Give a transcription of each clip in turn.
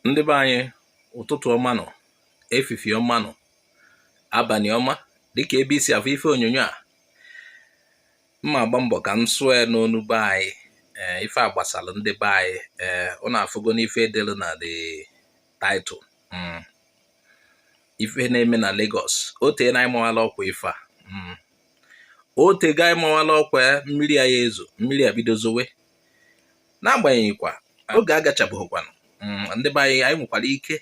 ndị be anyị ụtụtụ ọma nụ efifi ọma nụ abalị ọma dịka ebe i si afụ ife onyonyo a mma agba mbọ ka m sụọ ya n'onu be anyị ee ife a gbasara ndị be anyị ee ụnụ afụgo n'ife edelu na the title mm. ife na-eme na Lagos o teena anyị mawala ọkwa ife a mm. o tega anyị mawala ọkwa mmiri a ya ezo mmiri a bido zowe n'agbanyeghịkwa oge agachabeghịkwanụ mm, ndị be anyị anyị nwekwara ike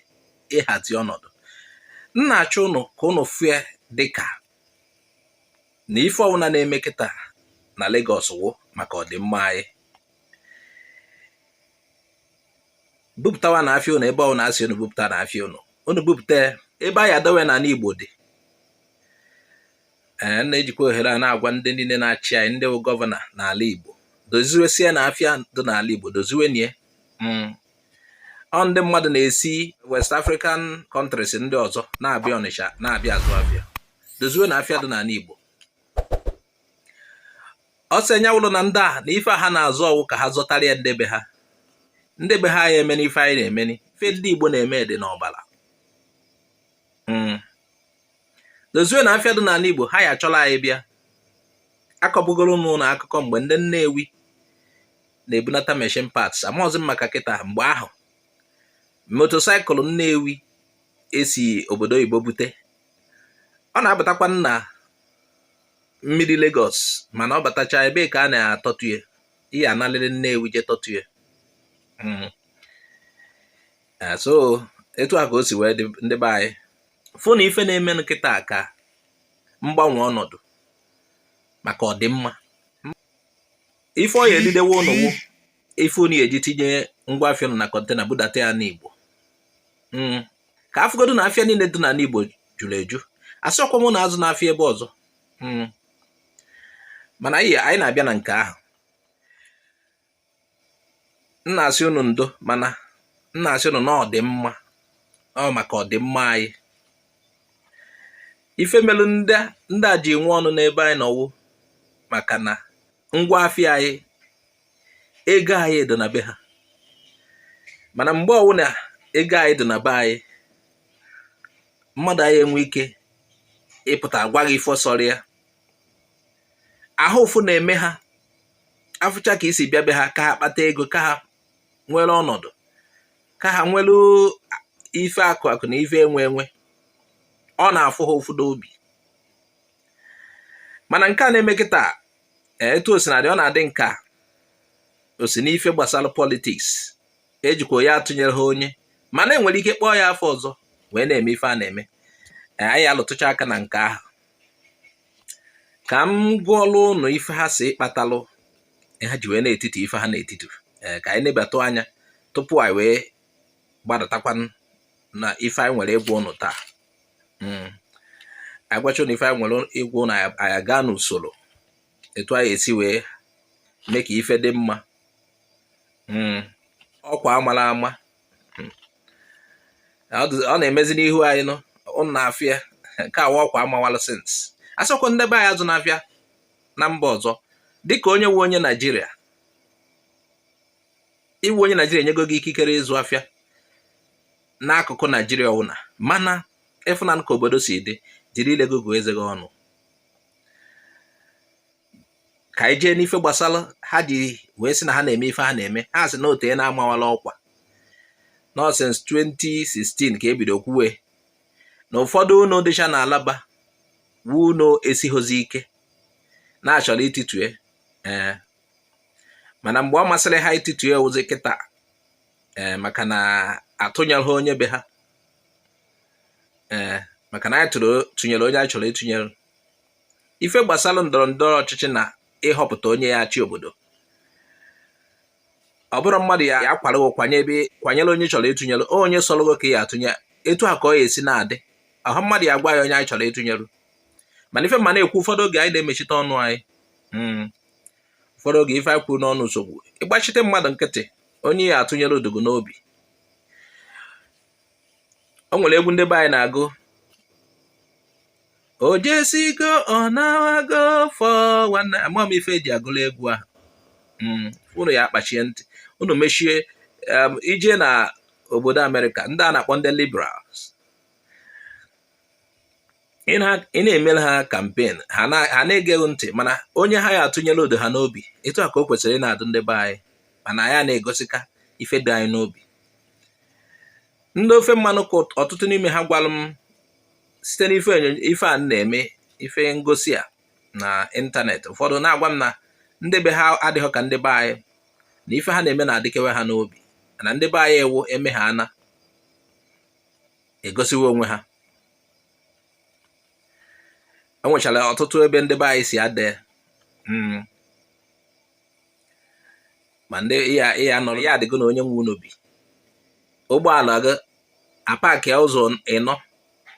ịhazi ọnọdụ m na-achọnụ ka ụnụ fụ ya dịka na ife ọbụla na-eme kịta na Lagos wụ maka ọdịmma anyị bupụtawanụ afịa ụnụ ebe ọbụla a sị ụnụ bupụtanụ afịa ụnụ ụnụ bupụta ebe a ya adowe n'ala Igbo dị ee eh, m na-ejikwa ohere a na-agwa ndị niile na-achị anyị ndị bụ gọvanọ n'ala Igbo doziwesienụ afịa dị n'ala Igbo doziwenụ ya hmm. ọ ndị mmadụ na-esi West African countries ndị ọzọ na-abịa Ọnịcha na-abịa azụ afịa doziwenụ afịa dị n'ala Igbo ọ sị anya wụrụ na ndị a na ife ha na-azụ ọ wụ ka ha zụtara ya ndị be ha ndị be ha ya emeni ife anyị na-emeni ife ndị Igbo na-eme dị n'ọbara hmm. dozienụ afịa dị n'ala Igbo ha ya achọla anyị bịa akọbugoro m unu akụkọ mgbe ndị Nnewi na-ebunata machine parts amaghịzi m maka kịta mgbe ahụ motosaịkụl Nnewi e si obodo oyibo bute ọ na-abatakwa na mmiri Lagos mana ọ batacha ebe ka a na-atọtụ ya i ya analịrị Nnewi je tọtụ ya hmm. eh, so etu a ka o si wee dị ndị be anyị fụnụ ife na-eme kịta ka mgbanwe ọnọdụ maka ọdịmma ife ọ ya edidewe ụnụ wụ ife unu ya eji tinye ngwa afịa unu na kọntena budata ya n'Igbo hmm. ka a fụgodu na afịa niile dị n'ala Igbo juru eju asịrọkwa m unu azụna afịa ebe ọzọ hmm. mana anyị na-abịa na nke ahụ m na-asị unu ndo mana m na-asị unu na ọ dị mma ọ maka ọdịmma anyị ife melu ndị a ji nwe ọnụ n'ebe anyị nọ wụ maka na ngwa afịa anyị ego anyị dị na be ha mana mgbe ọwụna ego anyị dị na be anyị mmadụ ayị enwe ike ịpụta agwa gị ife sọrọ ya ahụ ụfụ na-eme ha afụcha ka i si bịa be ha ka ha kpata ego ka ha nwere ọnọdụ ka ha nwere ife akụ akụ na ife enwe enwe ọ na-afụ ha ụfụ n'obi mana nke a na-eme kịta eh, etu osinadị ọ na-adị ka o si n'ife gbasara politiks ejikwa ya atụnyere ha onye mana enwere ike kpọọ ya afa ọzọ wee na-eme ife a na-eme eh, anyị alụtụcha aka na nke ahụ ka m gụọlụ ụnụ ife ha sị kpatalụ ha ji wee na-etiti ife ha na-etiti eh, ka anyị nebatụ anya tupu anyị wee gbadatakwa na ife anyị nwere ịgwa ụnụ taa hmm. agwacha ụnụ ife anyị nwere ịgwa ụnụ anyị gaa n'usoro etu anyị esi wee mee ka ife dị mma hmm. ọkwa amara ama ọ na-emezi n'ihu anyị nọ ụnụ na-afụ ya nke a wụ ọkwa amawalụ sins asịkwa ndị be anyị azụna afịa na mba ọzọ dịka onye wu onye naijiria iwu onye naijiria enyego gị ikikere ịzụ afịa n'akụkụ naijiria ọwụna mana ịfụnanụ ka obodo si dị jiri ile gị gụọ eze gị ọnụ ka anyị jee n'ife gbasara ha ji wee sị na ha na-eme ife ha na-eme ha sị na o teena amawala ọkwa na sins 2016 ka ebido kwuwe na ụfọdụ ụnọ dịcha na alaba wu ụnọ esighozi ike na achọrọ ititue ee eh, mana mgbe ọ masịrị ha ititue wuzi kịta ee eh, maka na atụnyelụ onye be ha ee eh, maka na anyị tụnyere onye anyị chọrọ ịtụnyere ife gbasara ndọrọ ndọrọ ọchịchị na ịhọpụta onye ya achị obodo ọ bụrụ mmadụ ya ya kwara kwanye ebe kwanyere onye chọrọ ịtụnyere onye sọrọ gị ka ya atụnye etu a ka ọ ya esi na-adị ahụ mmadụ ya agwa ya onye anyị chọrọ ịtụnyere mana ife m na-ekwu ụfọdụ oge anyị na-emechite ọnụ anyị hmm. ụfọdụ oge ife anyị kwuru n'ọnụ nsogbu ị gbachite mmadụ nkịtị onye ya atụnyere ọ dị gị n'obi o nwere egwu ndị be anyị na-agụ o jesigo ọ nawago fọ nwanne ama m ife eji agụla egwu ahụ hmm, unu ya akpachie ntị unu mechie um, i jee na obodo amerịka ndị a na-akpọ ndị liberals ị na-emere ha kampen ha na-ege gị ntị mana onye ha ya atụnyelụ ọ dị ha n'obi etu a ka o kwesịrị ịna-adụ ndị be anyị mana anyị na-egosika ife dị anyị n'obi ndị ofe mmanụ ka ọtụtụ n'ime ha gwalụ m site n'ife ife a na-eme ife ngosi a na ịntanetị ụfọdụ na-agwa m na ndị be ha adịghị ka ndị be anyị na ife ha na-eme na-adịkewe ha n'obi na ndị be anyị ewu eme ha a na-egosiwe onwe ha e nwechara ọtụtụ ebe ndị be anyị si ade hmm. ma ndị ya nọrọ ya adịgo na onye nwe ụnọ bi ụgbọala gị apakịa ụzọ ịnọ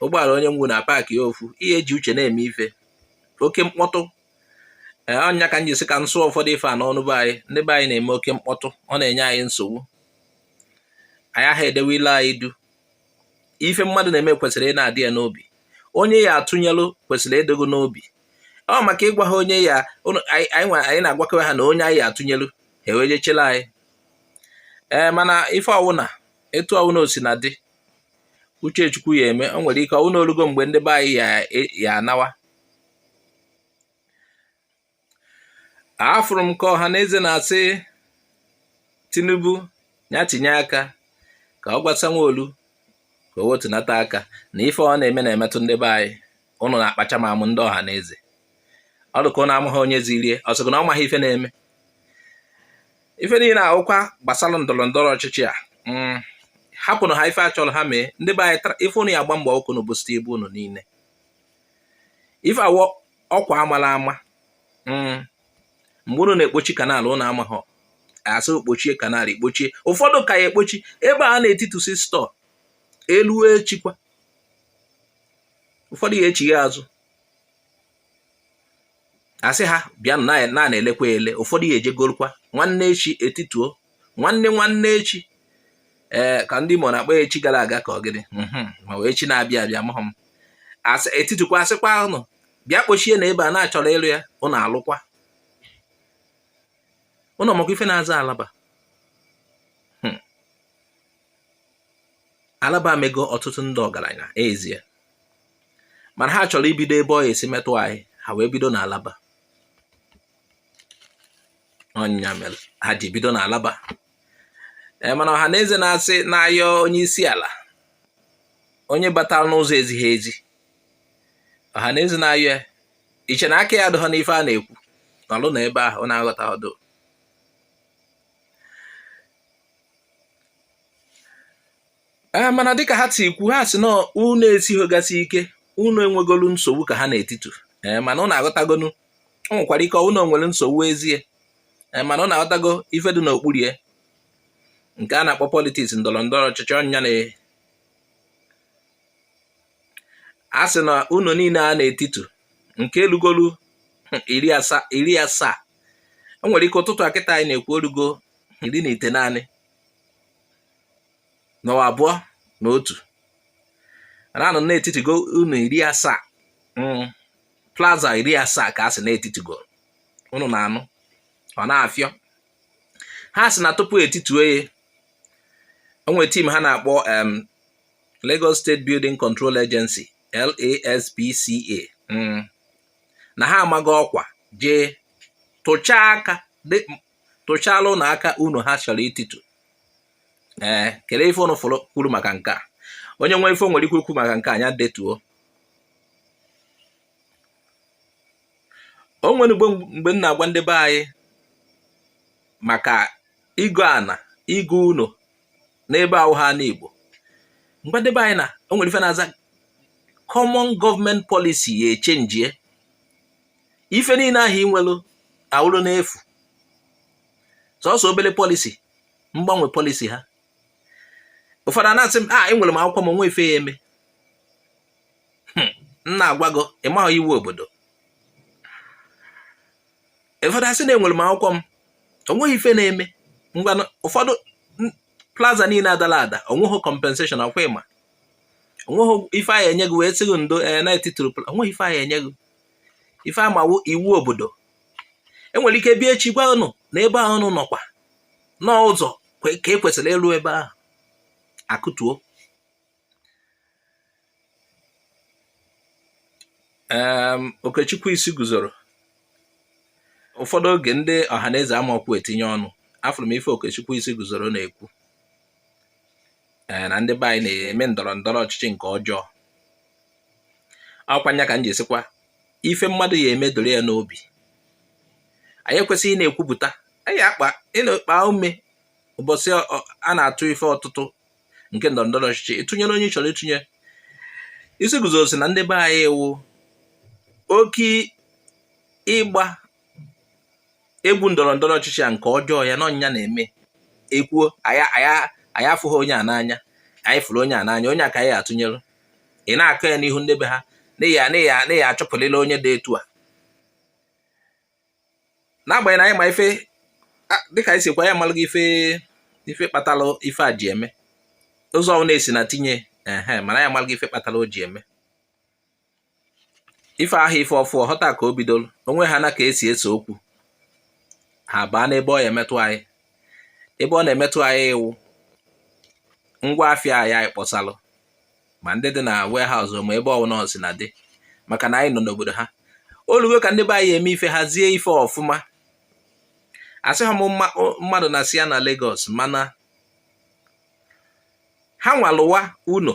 ụgbọala onye nwe ụnọ apakịa ofu ihe eji uche na-eme ife oke mkpọtụ ee ọ nya ka m ji sị ka m sụọ ụfọdụ ife a n'ọnụ be anyị ndị be anyị na-eme oke mkpọtụ ọ na-enye anyị nsogbu anyị aha edewe ile anyị duu ife mmadụ na-eme kwesịrị ịna-adị ya n'obi onye ya atụnyelụ kwesịrị ịdị gị n'obi ọ maka ịgwa ha onye ya anyị na-agwakewe ha na onye anyị atụnyelụ ha ewee jechela anyị ee mana ife ọwụna etu ọwụna o sina dị uche chukwu ya eme o nwere ike ọ wụ na o lugo mgbe ndị be anyị ya anawa afụrụ m ka ọha na eze na-asị tinubu ya tinye aka ka ọ gwa sanwo-olu ka o wetunata aka na ife ọ na-eme na-emetụ ndị be anyị ụnụ na-akpacha m amụ ndị ọha na eze ọ dịka ụnụ amaghị onye ziri ya ọ sịkwa na ọ maghị ife na-eme ife niile a wụkwa gbasara ndọrọ ndọrọ ọchịchị a mm, hapụnụ ha ife ha chọrọ ha mee ndị be anyị ife ụnụ ya agba mbọ ka ụnụ busite ibu ụnụ niile ife a wụ ọkwa a mala ama mm, mgbe ụnụ na-ekpochi canal ụnụ amaghị a sị kpochie canal i kpochie ụfọdụ ka ya ekpochi ebe a na-etitusi store elue echikwa ụfọdụ ya echigha azụ a sị ha bịa na na-elekwa ele ụfọdụ ya ejegorukwa nwanne echi etituo nwanne nwanne echi ee ka ndị Imo na-akpọ echi gara aga ka ọ gịnị mhm, ma ọ wụ echi na-abịa abịa amahụ m etitukwa a sịkwa ụnụ bịa kpochie na ebe a na a chọrọ ịlụ ya ụnụ alụkwa ụnọ maka ife na-aza alaba hmm. alaba emego ọtụtụ ndị ọgaranya ezie mana ha chọrọ ibido ebe ọ ya esi metụ anyị ha wee bido na alaba ọ nya mere ha ji bido na alaba e, mana ọha na eze na-asị na-ayọ onye isi ala onye batara n'ụzọ ezighị ezi ọha na eze na-ayọ ya i che na aka ya adịghọ n'ife a na-ekwu nọlụ na ebe ahụ ọ na-aghọta ọdụ ee mana dịka ha si kwu ha sị na ụnọ esighogasị ike ụnọ enwegolu nsogbu ka ha na-etitu ee mana unu aghọtagonu o nwekwara ike ụnọ nwere nsogbu ezie ee mana unu aghọtago ife dị n'okpuru ya nke a na-akpọ politiks ndọrọ ndọrọ ọchịchị ọ nya na a sị na ụnọ niile a na-etitu nke elugolu iri asaa o nwere ike ụtụtụ a kịta anyị na-ekwu o rugo iri na itenaanị na abụọ na otu na anụ na etitugo ụnọ iri asaa mm. plaza iri asaa ka a sị na etitugo unu na-anụ ọ na-afịọ ha sị na tupu etituo ya o nwere tim ha na-akpọ Lagos State Building Control Agency LASBCA mm. na ha amago ọkwa jee tụchaa aka tụchala ụnọ aka ụnọ ha chọrọ ititu ee kelee ife ụnụ fụrụ kwuru maka nke a onye nwere ife o nwere ike ikwu maka nke a nya detuo o nwere mgbe m na-agwa ndị be anyị maka ịgo ana ịgo ụnọ n'ebe awụhọ ana Igbo m gwa ndị be anyị na o nwere ife na-aza common government policy ya echenjie ife niile ahụ ị nwere awụrụ n'efu sọsọ obere pọlisi mgbanwe pọlisi ha ụfọdụ ana-asị m a ah, enwere m akwụkwọ m onweghị ife ya-eme hmm, m na-agwa gị ịmaghị iwu obodo ụfọdụ asị na enwere m akwụkwọ m onweghị ife na-eme ngwa ụfọdụ plaza niile adala ada onweghị compensation ọkwa ịma onweghị ife a ya-enye gị wee sị gị ndo eh, na etituru onweghị ife a ya-enye gị ife a ma wụ iwu obodo enwere ike bịa echi gwa ụnụ na ebe ahụ ụnụ nọkwa na ụzọ ka e kwesịrị ịlụ ebe ahụ a kụtuo Okechukwu Isiguzoro ụfọdụ oge ndị Ọhanaeze amaokwu etinye ọnụ afụrụ m ife Okechukwu Isiguzoro na-ekwu na ndị be anyị na-eme ndọrọ ndọrọ ọchịchị nke ọjọọ ọkwa ya ka m ji asịkwa ife mmadụ ya-eme doro ya n'obi anyị ekwesịghị ịna-ekwupụta anyị akpa ịna-ekpa ume ụbọchị a na-atụ ife ọtụtụ nke ndọrọ ndọrọ ọchịchị ị tụnyere onye ị chọrọ ịtụnye Isiguzoro sị na ndị be anyị wụ oke ịgba egwu ndọrọ ndọrọ ọchịchị a nke ọjọọ ya na ọ nya na-eme e kwuo anyị afụghị onye a n'anya anyị fụrụ onye a n'anya onye a ka anyị atụnyere ị na-akọ ya n'ihu ndị be ha na ya achụpụlịla onye dị etu a n'agbanyeghị na anyị ma ife dịka anyị sikwa anyị amalụgo ife kpatalụ ife a ji eme ụzọ ọ na-esi na tinye ehe mana anyị amalụgo ife kpatalụ o ji eme ife ahụ ife ọfụ ọhụta ka o bidoro onwe ha na ka esi ese okwu ha baa n'ebe ọ ya emetụ anyị ebe ọ na-emetụ anyị wụ ngwa afịa anyị kpọsalụ ma ndị dị na warehouse ma ebe ọbụla o sina dị maka na anyị nọ n'obodo ha olugo ka ndị be anyị eme ife hazie ife ọfụma asịha m mmadụ nasịa na Lagos mana ha nwa lụwa ụnọ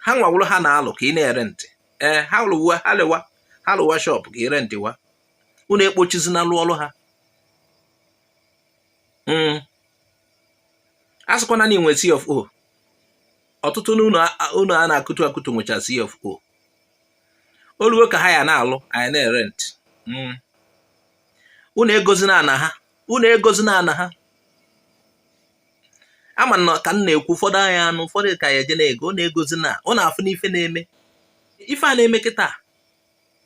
ha nwa wụrụ ha na-alụ ka anyị na-erentị ee eh, ha lụwa ha lụwa ha lụwa shọpụ ka anyị rentịwa unu ekpochizina lụ ọrụ ha hmm. a sịkwana na i nwe C of O ọtụtụ n'ụnọ a na-akụtu akụtu nwecha C of O olugo ka ha ya na-alụ anyị na-erentị hmm. unu egozina ana ha unu egozina ana ha ama m na ka m na-ekwu ụfọdụ anya anụ ụfọdụ ka ya eje na-ego unu egozina unu afụna ife na-eme ife a na-eme kịta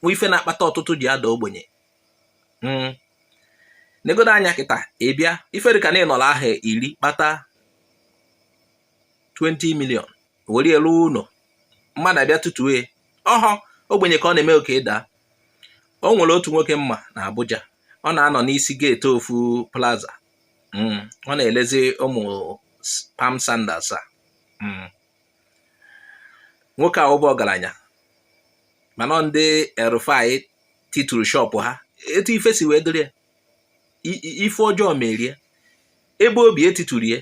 bụ ife na-akpata ọtụtụ ji ada ogbenye hmm. negodo anya kịta ị bịa ife dịka na ị nọrọ ahọ iri kpata 20 million were lụọ ụnọ mmadụ abịa titue ọhọ ogbenye ka ọ na-eme oke daa o nwere otu nwoke m ma na Abuja ọ na-anọ n'isi geeti ofu plaza hmm, ọ na-elezi ụmụ palm sandals a hmm. nwoke a wụbu ọgaranya mana ndị El-Rufai tituru shọpụ ha etu ife si wee dịrị ya ife ọjọọ mere ya ebe o bi e tituru ya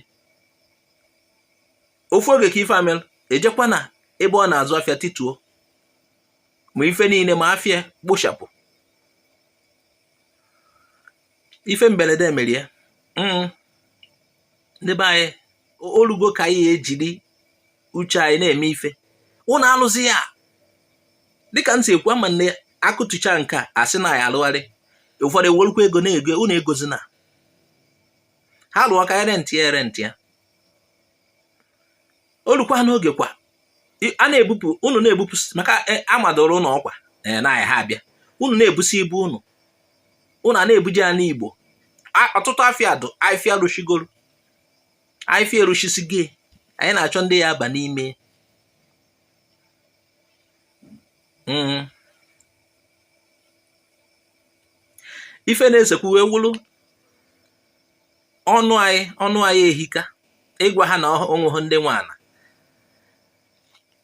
ofu oge ka ife a melụ e jekwa na ebe ọ na-azụ afịa tituo ma ife niine ma afịa kpochapụ ife mbelede mere ya mm. ndị be anyị olugo ka anyị ejiri uche anyị na-eme ife unu anụzi ya dịka m si ekwu ama m na a kụtucha nke a a sị na a ya alụgharị ụfọdụ ewerukwa ego na-ego unu egozina ha lụọ ka anyị rentị ya rentị ya olukwa n'oge kwa a na-ebupụ unu na-ebupụ maka e, amadoro ụlọ ọkwa e, na ha abịa unu na-ebusi ibu unu unu a na-ebuje ya n'Igbo ọtụtụ afịa dụ afịa a rụsịgoro afịfịa eruchisigo anyị na-achọ ndị ya aba n'ime hmm. ife na-ese okwu wee wụrụ ọnụ anyị ọnụ anyị ehika ịgwa ha na onweghị ndị nwe ana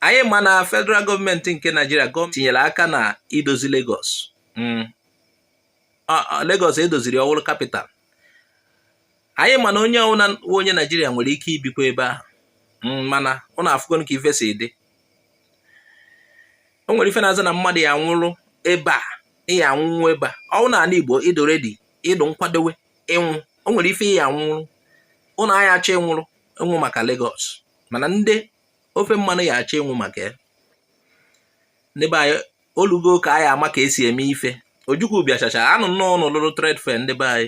anyị ma na federal gọọmenti nke naijiria tinyere aka na idozi Lagos hmm. Lagos edoziri ọwụrụ kapital anyị ma na onye ọwụna onye naijiria nwere ike ibikwa ebe ahụ hmm, mana ụnụ afụgo ka ife si dị o nwere ife na-aza na mmadụ ya anwụrụ ebe a ịya anwụnwụ ebe a ọwụ na ana Igbo ịdụ redi ịdụ nkwadowe ịnwụ o nwere ife ya anwụrụ ụnụ ayaghị achọ ịnwụrụ ịnwụ maka Lagos mana ndị ofe mmanụ ya achọ ịnwụ maka ya ndị be anyị olugo ka anyị ama ka esi eme ife ojukwu bịachacha anụ na ụnụ lụrụ trade fair ndị be anyị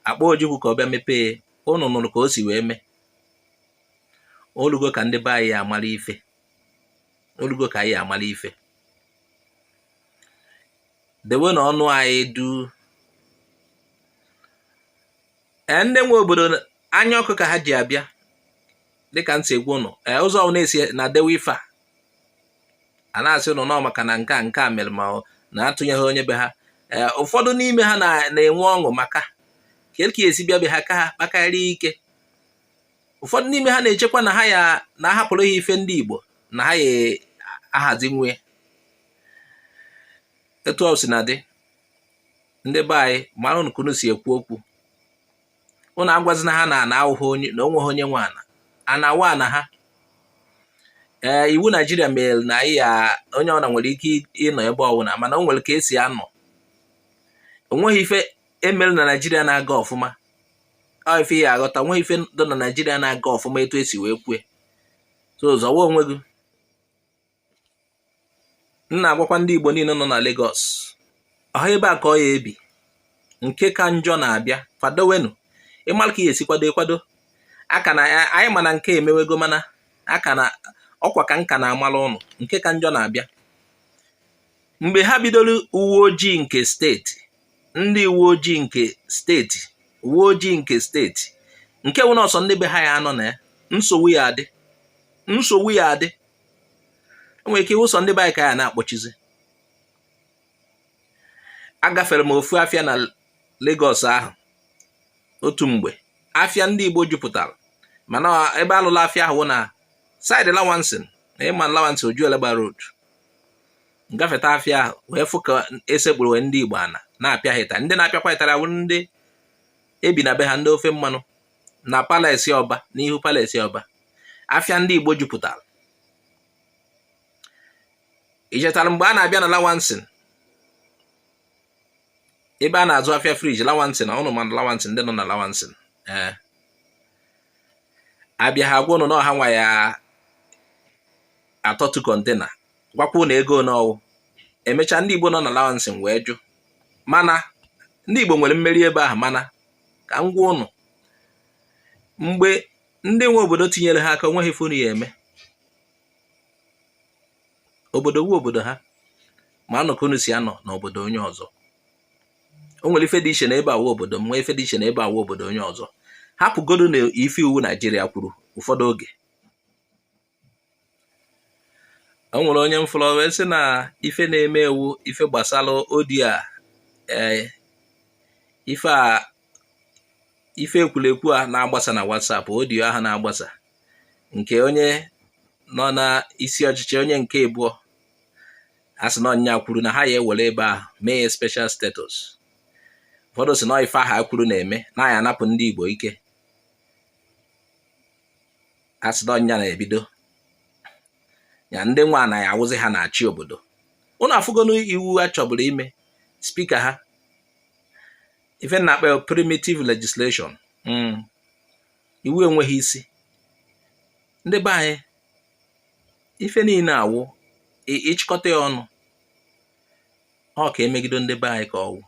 akpọ ojukwu ka ọ bịa mepee ụnụ nụrụ ka o si wee mee olugo ka ndị be anyị ya amara ife olugo ka anyị ya amara ife dewe na ọnụ anyị duu ee ndị nwe obodo anya ọkụ ka ha ji abịa dịka m si agwa ụnụ ee ụzọ ọwụna esi na dewe ife a a na-asị ụnụ nọ maka na nke a nke a mere ma na atụnyeghị onye be ha ee ụfọdụ n'ime ha na-enwe ọṅụ maka ka esi bịa be ha ka ha kpakarịa ike ụfọdụ n'ime ha na-echekwa na ha ya na ahapụrụ ha ife ndị Igbo na ha ya ahazi nwe etu o si na dị ndị be anyị maranụ ka unu si ekwu okwu unu agwazina ha na ana awụghị onye na onweghị onye nwe ana ana wụ ana ha ee iwu naijiria mere na anyị ya onye ọwụna nwere ike ịnọ ebe ọwụna mana o nwere ka esi anọ onweghị ife emere na naijiria na-aga ọfụma ife ya aghọta onweghị ife dị na naijiria na-aga ọfụma etu esi wee kwue so zọwa onwe gị m na-agwakwa ndị igbo niile nọ na Lagos ọha ebe a ka ọ ya ebi nke ka njọ na-abịa kwadowenụ ịmara ka ị ya esi kwado ị kwado maka na anyị ma na nke a emewego mana aka na ọkwa ka m ka na-amara ụnụ nke ka njọ na-abịa mgbe ha bidoro uwe ojii nke steeti ndị uwe ojii nke steeti uwe ojii nke steeti nke wụ na ọ sọ ndị be ha ya anọ na ya nsogbu ya adị nsogbu ya adị onwere ike ịwụ sọ ndị be anyị ka a ya na-akpọchizi agafere m ofu afịa na Lagos ahụ otu mgbe afịa ndị Igbo jupụtara mana ebe alụrụ afịa ahụ wụ na side Lawanson na ịma Lawanson Ojuelegba road ngafeta afịa ahụ wee fụ ka esekpuru ndị Igbo ana na-apịa ha ịtarị ndị na-apịakwa ha ịtarị awụ ndị ebi na be ha ndị ofe mmanụ na palace Ọba n'ihu palace Ọba afịa ndị Igbo jupụtara ichetara mgbe a na-abịa na Lawanson ebe a na-azụ afịa fridge Lawanson na ụnụ ma na Lawanson ndị nọ na Lawanson ee eh. abịa ha gwa ụnụ na ọ ha nwa ya atọtu container gwakwuo ụnụ ego one ọwụ emechaa ndị Igbo nọ na Lawanson wee jụ mana ndị Igbo nwere mmeri ebe ahụ mana ka m gwa ụnụ mgbe ndị nwe obodo tinyere ha aka onweghị ife ụnụ ya eme obodo wụ obodo ha manụ ka unu si anọ na obodo onye ọzọ o nwere ife dị iche na ebe awụ obodo m nwee ife dị iche na ebe awụ obodo onye ọzọ hapụgodo na ife iwu naijiria kwuru ụfọdụ oge o nwere onye m fụrụ wee sị na ife na-eme ewu ife gbasara audio a ee eh, ife a ife ekwurekwu a na-agbasa na WhatsApp audio ahụ na-agbasa nke onye nọ na isi ọchịchị onye nke abụọ a sị na ọ nya kwuru na ha ya ewere ebe ahụ mee ya special status ụfọdụ sị na ife a ha kwuru na-eme na ya anapụ ndị Igbo ike a sị na ọ nya na-ebido ya ndị nwa na ya awụzi ha na-achị obodo ụnụ afụgonu iwu a chọburu ime spika ha ife m na akpọ primitive legislation hmm. iwu enweghị isi ndị be anyị ife niile awụ ịchịkọta ya ọnụ ọ ka emegido ndị be anyị ka ọwụ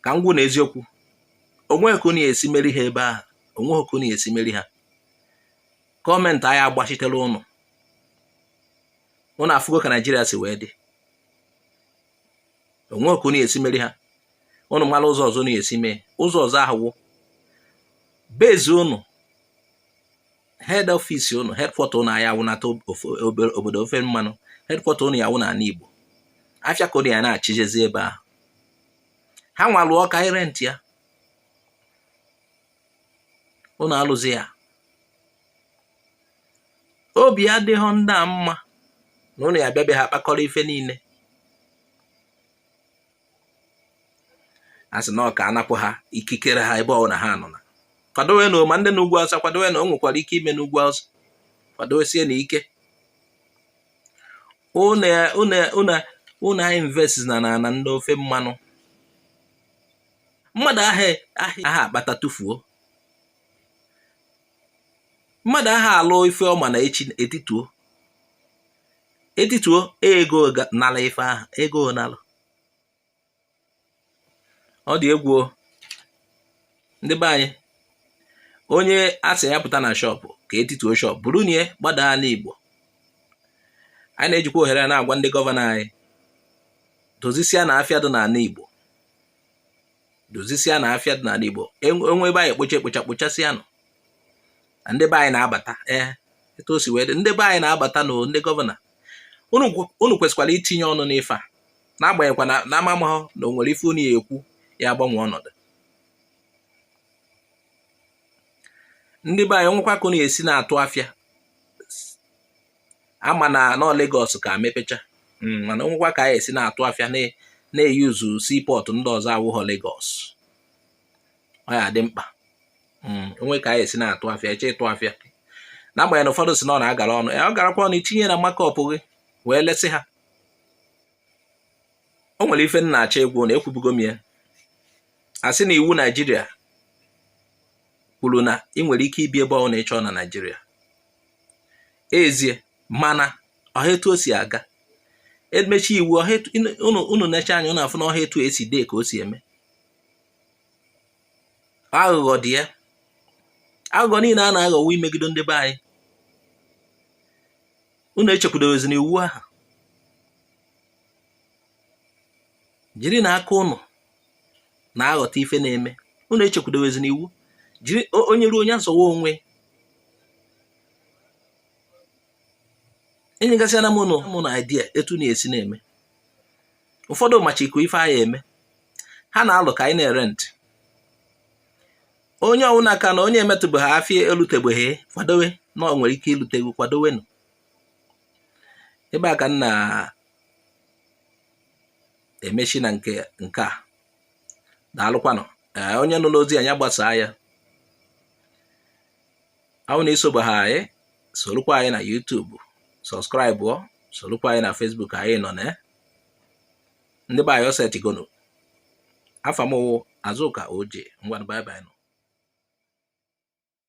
ka m gwa ụnụ eziokwu onweghị ka unu ya esi meri ha ebe ahụ onweghị ka unu ya esi meri ha gọọmenti aya agbachitere ụnụ ụnụ afụgo ka naijiria si wee dị onweghị ka unu ya esi meri ha ụnụ mara ụzọ ọzọ unu ya esi mee ụzọ ọzọ ahụ wụ base ụnụ head office ụnụ headquarter ụnụ aya awụnata obodo ofe mmanụ headquarter ụnụ ya wụ n'ala Igbo afịa ka ụnụ ya na-achịjezi ebe ahụ ha nwa lụọ ka i rent ya ụnụ alụzi ya obi adịghị ndị a mma na ụnụ ya bịa be ha kpakọrọ ife niile a sị na ọ ka anapụ ha ikikere ha ebe ọbụla ha nọ na kwadowenụ ma ndị na ugwu awụsa kwadowe na o nwekwara ike ime n'ugwu awụsa kwadowesienụ ike unu ainvestna n'ana ndị ofe mmanụ mmadụ aha akpata tụfuo mmadụ aha alụ ife ọma na echi etituo etituo ego nala ife ahụ ego nalụ ọ dị egwu ndị be anyị onye asị ya pụta na shọpụ ka etituo shọpụ buru nye gbadaa ana igbo anyị na-ejikwa ohere a na-agwa ndị gọvanọ anyị dozisianụ afịa dị n'ana igbo dozisianụ afịa dị n'ana Igbo e nwee ebe a ya-ekpocha ekpocha kpochasịanụ na ndị be anyị na-abata ee eh, etu o si wee dị ndị be anyị na-abata na ndị gọvanọ unu kwesịkwara itinye ọnụ n'ife a n'agbanyeghịkwa na amamahụ na o nwere ife unu ya-ekwu ya agbanwe ọnọdụ ndị be anyị o nwekwa ka unu ya-esi na-atụ afịa a mana na ọ Lagos ka mepecha hmm, mana o nwekwa ka anyị esi na-atụ afịa na-eyuzu seaport ndị ọzọ awụghọ Lagos ọ ya-adị mkpa hmm, o nwee ka anyị esi na-atụ afịa eche ịtụ afịa n'agbanyeghị na ụfọdụ si na ọ na-agara ọnụ ọ garakwa ọnụ i tinye na markup gị wee lesịa o nwere ife m na-achọ ikwu na ekwubugo m ya a sị na iwu naijiria kwuru na ị nwere ike ibi ebe ọbụla ị chọọ na naijiria ezie mana ọha etu o si aga emechi iwu unu nechaa anya unu afụ na ọha etu e si dee ka o si eme aghụghọ dị ya aghụghọ niile a na-aghọ wụ imegide ndị be anyị unu echekwudowezi na iwu ahụ jirinụ aka unu na-aghọta ife na-eme unu echekwudowezi na iwu jiri onye ruo onye azọwa onwe enyegasịana m unu idea etu unu ya-esi na-eme ụfọdụ macha iko ife a ya-eme ha na-alụ ka anyị na-arent onye ọwụna aka na onye emetụbeghị afịa elutebeghị kwadowe na ọ nwere ike ilute kwadowenụ ebe a ka m na emechi na nke a daalụkwanụ ee onye nụlụ ozi a ya gbasaa ya a wụ na i sobeha anyị sorokwa anyị na YouTube subscribeọ sorokwa anyị na Facebook anyị nọ na ndị be anyị ọ setigo nụ afa mụ wụ Azụka Oje ngwanụ bye bye nụ